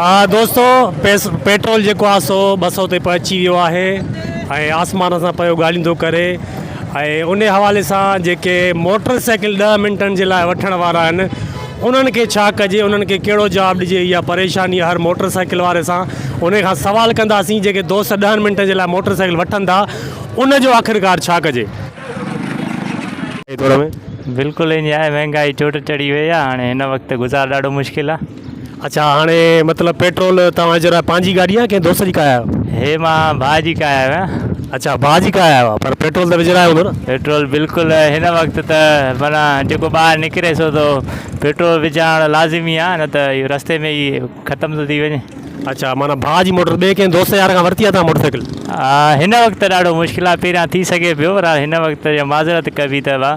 آ دوستو پيٽرول جيڪو آ سو ٻه سؤ تي پهچي ويو آهي ۽ آسمان سان پيو ڳالهيندو ڪري ۽ انهي حوالي سان جيڪي موٽر سائيڪل ڏهه منٽن جي لاء وٺڻ وارا آهن انهن کي ڇا ڪجي انهن کي ڪهڙو جواب ڏجي اها پريشاني هر موٽر سائيڪل واري سان انهي کان سوال ڪنداسين جيڪي دوست ڏهن منٽن جي لاء موٽر سائيڪل وٺن ٿا ان جو آخرڪار ڇا ڪجي. بلڪل ائين آهي مهنگائي چوٽ چڙهي وئي آهي هاڻي هن وقت گذار ڏاڍو مشڪل آهي. اڇا هاڻي مطلب پيٽرول توهان جي لاء پنهنجي گاڏي آهي يا ڪنهن دوست جي ڪاهي آهيو. هي مان ڀاء جي ڪاهي آهيو آهيان. اڇا ڀاء جي ڪاهي آهيو آهيان پر پيٽرول ته وجهرايو هوندو نه. پيٽرول بلڪل هن وقت ته معنيٰ جيڪو ٻاهر نڪري سو ته پيٽرول وجهارڻ لازمي آهي نه ته اهو رستي ۾ ئي ختم ٿو ٿي وڃي. اڇا معنيٰ ڀاء جي موٽر ٻئي ڪنهن دوست يار کان ورتي آهي توهان موٽر سائيڪل. هن وقت ته ڏاڍو مشڪل آهي پهريان ٿي سگهي پيو پر هن وقت جي معذرت ڪبي ته ڀاء.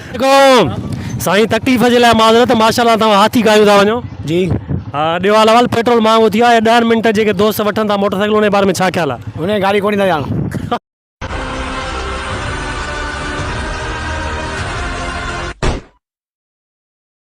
جيڪو سائين تڪليف جي لاء معذرت ماشاءالله توهان هاٿي گايون ٿا وڃو. جي ها ڏيو حال احوال پيٽرول مهانگو ٿي ويو آهي ڏهن منٽن جيڪي دوست وٺن ٿا موٽر سائيڪلون انهي باري ۾ ڇا خيال آهي. انهي گاڏي ڪونهي ٿا ڄاڻن.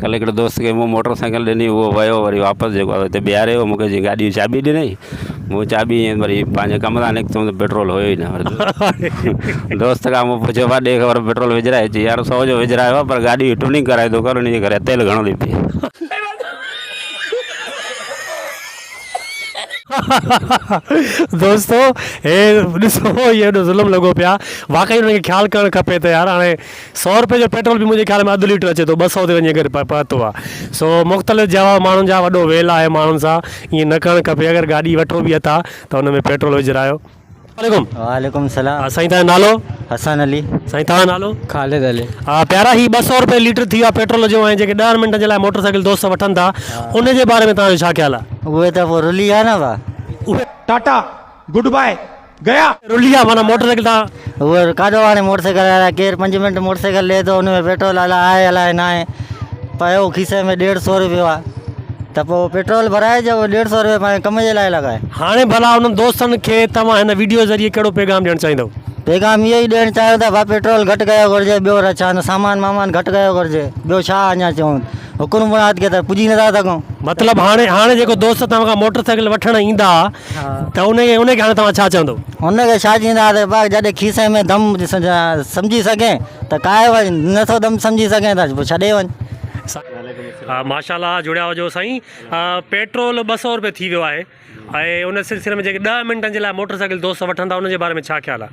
ڪلهه هڪڙي دوست کي مون موٽر سائيڪل ڏني هو ويو وري واپس جيڪو آهي هتي بيهاري ويو مون کي چيائين گاڏي جي چاٻي ڏنئي مون چاٻي ائين وري پنهنجي ڪم تان نڪتم ته پيٽرول هيو ئي نه دوست کان مون پڇيو ڀاء ڏي خبر پيٽرول وجهرايو چيائين يار سو جو وجهرايو آهي پر گاڏي ٽيوننگ ڪرائي ٿو ڪر ان جي ڪري تيل گهڻو ٿي پئي دوستو هي ڏسو هي ظلم لڳو پيو آهي واقعي ان کي خيال ڪرڻ کپي ته يار هاڻي سؤ رپئي جو پيٽرول به منهنجي خيال ۾ اڌ ليٽر اچي ٿو ٻه سؤ تي وڃي ڪري پهتو آ سو مختلف جواب ماڻهن جا وڏو ويل آهي ماڻهن سان ائين نه ڪرڻ کپي اگر گاڏي وٺو به اٿا ته ان ۾ پيٽرول وجهرايو عليڪم وعليڪم سلام ها سائين تنهنجو نالو حسن علي سائين تنهنجو نالو خالد علي ها پيارا هي ٻه سؤ رپئي ليٽر ٿي ويو آ پيٽرول جو ۽ جيڪي ڏهن منٽن جي لاء موٽر سائيڪل دوست وٺن ٿا ان جي باري ۾ تنهنجو ڇا خيال آ اهي ته پوء رلي ويا نه اها ٽاٽا گڊ باء گيا. رليا معنيٰ موٽر سائيڪل تان. هو ڪاڏو آڻي موٽر سائيڪل هلايا. ڪير پنج منٽ موٽر سائيڪل لهي ٿو ان ۾ پيٽرول الا آهي الا ناهي. پيو کيسي ۾ ڏيڍ سو روپيو آ ته پو پيٽرول ڀرائي جو ڏيڍ سو روپيو پنهنجي ڪم جي لاء لڳائي. هاڻي ڀلا انهن دوستن کي توهان هن وڊيو ذريعي ڪهڙو پيغام ڏيڻ چاهيندؤ؟ پيغام اهو ئي ڏيڻ چاهيو ته ڀا پيٽرول گهٽ ڪيو گهرجي ٻيو رڇان سامان مامان گهٽ ڪيو گهرجي ٻيو ڇا اڃا چئون حڪرم بڻات کي ته پڄي نٿا سگهون. مطلب هاڻي هاڻي جيڪو دوست توهان کان موٽر سائيڪل وٺڻ ايندا. ته ان کي ان کي هاڻي توهان ڇا چوندو؟ ان کي ڇا چينداسين ڀاء جڏهن کيسي ۾ دم سمجهي سگهين ته ڪاهي وڃ نٿو دم سمجهي سگهين ته پوء ڇڏي وڃ. سائين ماشاءالله جڙيا هجو سائين پيٽرول ٻه سئو روپيه ٿي ويو آهي ۽ ان سلسلي ۾ جيڪي ڏهه منٽن جي لاء موٽر سائيڪل دوست وٺن ٿا ان جي باري ۾ ڇا خيال آهي.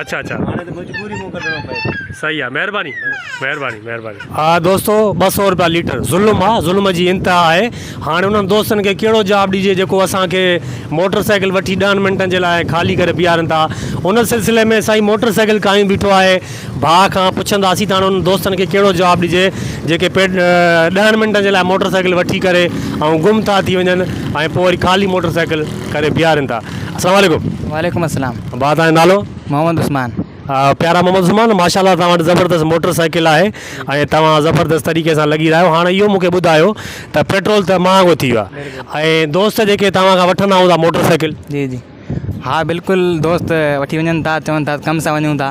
اچھا اچھا هاڻي ته مجبوري مون ڪڍڻو پئي ٿو. صحيح آ مهرباني مهرباني مهرباني. ها دوستو ٻه سئو روپيا ليٽر ظلم آ ظلم جي انتها آهي هاڻي انهن دوستن کي ڪهڙو جواب ڏجي جيڪو اسان کي موٽر سائيڪل وٺي ڏهن منٽن جي لاء خالي ڪري بيهارن ٿا ان سلسلي ۾ سائين موٽر سائيڪل ڪاهيون بيٺو آهي ڀاء کان پڇنداسين ته هاڻي انهن دوستن کي ڪهڙو جواب ڏجي جيڪي ڏهن منٽن جي لاء موٽر سائيڪل وٺي ڪري ۽ گم ٿا ٿي وڃن ۽ پوء وري خالي موٽر سائيڪل ڪري بيهارن ٿا السلام عليڪم. وعليڪم السلام. ڀاء توهان جو نالو؟ محمد عثمان. پيارا محمد عثمان ماشا الله توهان وٽ زبردست موٽر سائيڪل آهي ۽ توهان زبردست طريقي سان لڳي رهيا آهيو هاڻي اهو مونکي ٻڌايو ته پيٽرول ته مهانگو ٿي ويو آهي ۽ دوست جيڪي توهان کان وٺندا هوندا موٽر سائيڪل جي جي ها بلڪل دوست وٺي وڃن ٿا چون ٿا ڪم سان وڃون ٿا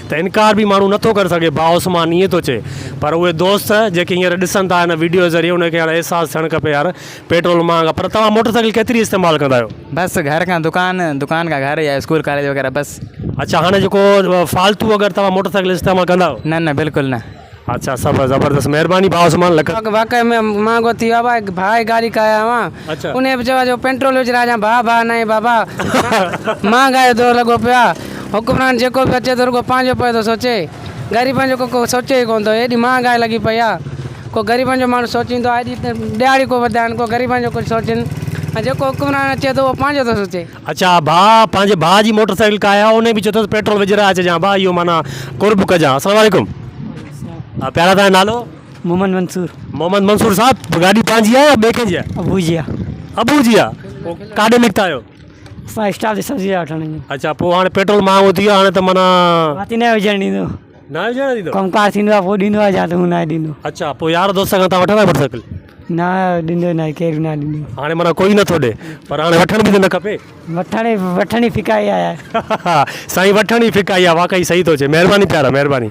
ته انڪار به ماڻهو نه ٿو ڪري سگهي ڀاء عثمان ائين ٿو چئي پر اهي دوست جيڪي هينئر ڏسن ٿا هن وڊيو جي ذريعي انهن کي هاڻي احساس ٿيڻ کپي يار پيٽرول مهانگ آهي پر توهان موٽر سائيڪل ڪيتري استعمال ڪندا آهيو؟ بس گهر کان دڪان دڪان کان گهر يا اسڪول ڪاليج وغيره بس. اڇا هاڻي جيڪو فالتو اگر توهان موٽر سائيڪل استعمال ڪندا آهيو؟ نه نه بلڪل نه. اچھا سب زبردست مھرباني ڀاء عثمان لک. واقعي ۾ مھانگو ٿي ويو آ ڀاء ڀاء جي گاڏي ڪاهي آيو آهيان اچھا. انهي به چيو جو پينٽرول وجهي رهجان ڀاء ڀاء ناهي بابا مهانگائي جو دور لڳو پيو آهي حڪمران جيڪو به اچي ٿو رڳو پنهنجو پوي ٿو سوچي غريبن جو ڪو سوچي ئي ڪونه ٿو ايڏي مهانگائي لڳي پئي آهي ڪو غريبن جو ماڻهو سوچيندو آهي ايڏي ڏهاڙي ڪو وڌائين ڪو غريبن جو ڪجهه سوچين ۽ جيڪو حڪمران اچي ٿو اهو پنهنجو ٿو سوچي. اچا ڀاء پنهنجي ڀاء جي موٽر سائيڪل ڪا آهي انهي به چيو اٿس پيٽرول وجهرائي اچجان ڀاء اهو معنيٰ قرب ڪجان السلام عليڪم پيارا تنهنجو نالو؟ محمد منصور. محمد منصور صاحب گاڏي پنهنجي آهي يا ٻئي ڪنهن جي آهي؟ ابو جي آهي. ابو جي آهي ڪاڏي نڪتا آهيو؟ اسان اسٽاف جي سبزي وٺڻ. اچا پوء هاڻي پيٽرول مهانگو ٿي ويو آهي هاڻي ته معنيٰ. ماتي نه وجهڻ ڏيندو. ڪم ڪار ٿيندو آ پو ڏيندو آ جا ته ھون ناھي ڏيندو. اچا پو يار دوست کان تھان وٺندا آھيو موٽر سائيڪل. نا ڏيندو ناھي ڪير به ناھي ڏيندو. ھاڻي معنيٰ ڪوئي نٿو ڏي پر ھاڻي وٺڻ به ته نه کپي. وٺڻ وٺڻ ئي ڦڪائي آ يار. سائين وٺڻ ئي ڦڪائي آ واقعي صحيح ٿو چئي مھرباني پيارا مھرباني.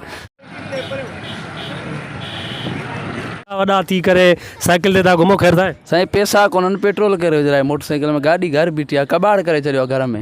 ايڏا وڏا ٿي ڪري سائيڪل تي ٿا گھمو خير سائين. سائين پيسا ڪونھن پيٽرول ڪري وجھرايو موٽر سائيڪل ۾ گاڏي گھر بيٺي آ ڪٻاڙ ڪري ڇڏيو آ گھر ۾.